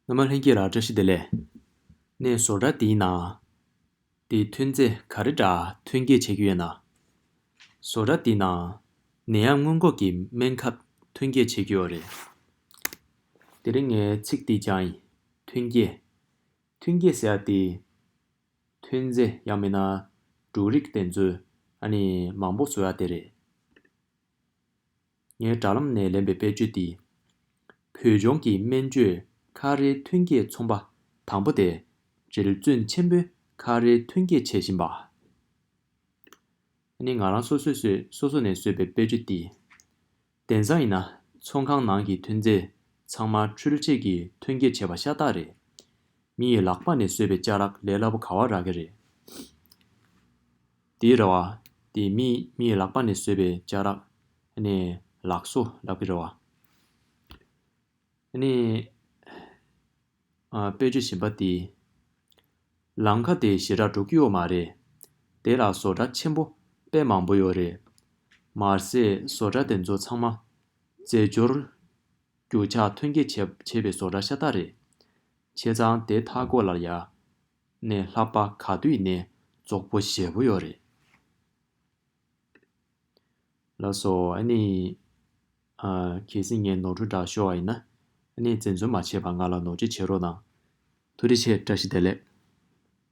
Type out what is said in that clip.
སྔ་མ་ལྷན་སྐྱེས་ལ་བཀྲ་ཤིས་བདེ་ལེགས། ནས་བཟོ་འདྲ་འདི་ན། འདི་ཐོན་རྫས་ག་རེ་འདྲ་ཐོན་སྐྱེད་བྱེད་ཀྱི་ཡོད་ན། བཟོ་འདྲ་འདི་ན། ནད་ཡམས་སྔོན་འགོག་གི་སྨན་ཁབ་ཐོན་སྐྱེད་བྱེད་ཀྱི་ཡོད་རེད། དེ་རིང་ངའི་ཚིག་འདི་སྦྱང་ཡིན། ཐོན་སྐྱེད། ཐོན་སྐྱེད་ཟེར་ཡ་དེ། ཐོན་རྫས་ཡང་མིན་ན། འབྲུ་རིགས་དེ་ཚོའི། ཨ་ནི་མང་པོ་བཟོ་ཡ་དེ་རེད། ངས་དྲ་ལམ་ནས་ལེན་པའི་དཔེར་བརྗོད་འདིས། བོད་ལྗོངས་ཀྱི་སྨན་བཅོས་ཁ་རའི་ཐོན་སྐྱེད་ཚོང་པ་དང་པོ་སྟེ། རིལ་བརྩོན་ཆེན་པོས་ཁ་རའི་ཐོན་སྐྱེད་བྱེད་བཞིན་པ། ཨ་ནི་ང་རང་སོ་སོས་བཟོས་སོ་སོ་ནས་བཟོས་པའི་དཔེར་བརྗོད་འདིས། དེང་སང་ཡིན་ན་ཚོང་ཁང་ནང་གི་ཐོན་རྫས་ཚང་མ་འཕྲུལ་ཆས་ཀྱིས་ཐོན་སྐྱེད་བྱས་པ་ཤ་སྟག་རེད། མི་ཡི་ལག་པ་ནས་བཟོས་པའི་ལྕགས་རག་ལས་སླ་པོ་ག་བ་རག་གི་རེད། དེའི་རེ་བ། དེ་མིའི་ལག་པ་ནས་བཟོས་པའི་ལྕགས་རག། ནས་ལག་བཟོ་རག་པའི་རེ་བ། ནས། དཔེ་བརྗོད་བཞིན་པ་དེ། ལང་ཁ་དེ་ཞེ་དྲག་དྲུག་ཡོད་མ་རེད། དེ་ལ་བཟོ་གྲ་ཆེན་པོ་དཔེ་མང་པོ་ཡོད་རེད། མ་ཟད་བཟོ་གྲ་དེ་ཚོ་ཚང་མ། རྫས་སྦྱོར། རྒྱུ་ཆ་ཐོན་སྐྱེད་བྱས་པའི་བཟོ་གྲ་ཤ་སྟག་རེད། བྱས་ཙང་དེ་མཐའ་སྐོར་ལ་ཡ། ནས་ལྷག་པ་ག་དུས་ནས་རྫོགས་པོ་བཞེད་པོ་ཡོད་རེད། ལགས་སོ་ཨ་ནི། ཨ། གལ་སྲིད་ངས་ནོར་འཁྲུལ་བསྒྲགས་ཤོར་བ་ཡིན་ན། ཨ་ནི་འཛེམ་ཟོན་མ་བྱེད་པར་ང་ལ་ནོར་འཁྲུལ་བྱེད་རོགས་གནང། ཐུགས་རེ་ཆེ་བཀྲ་ཤིས་བདེ་ལེགས།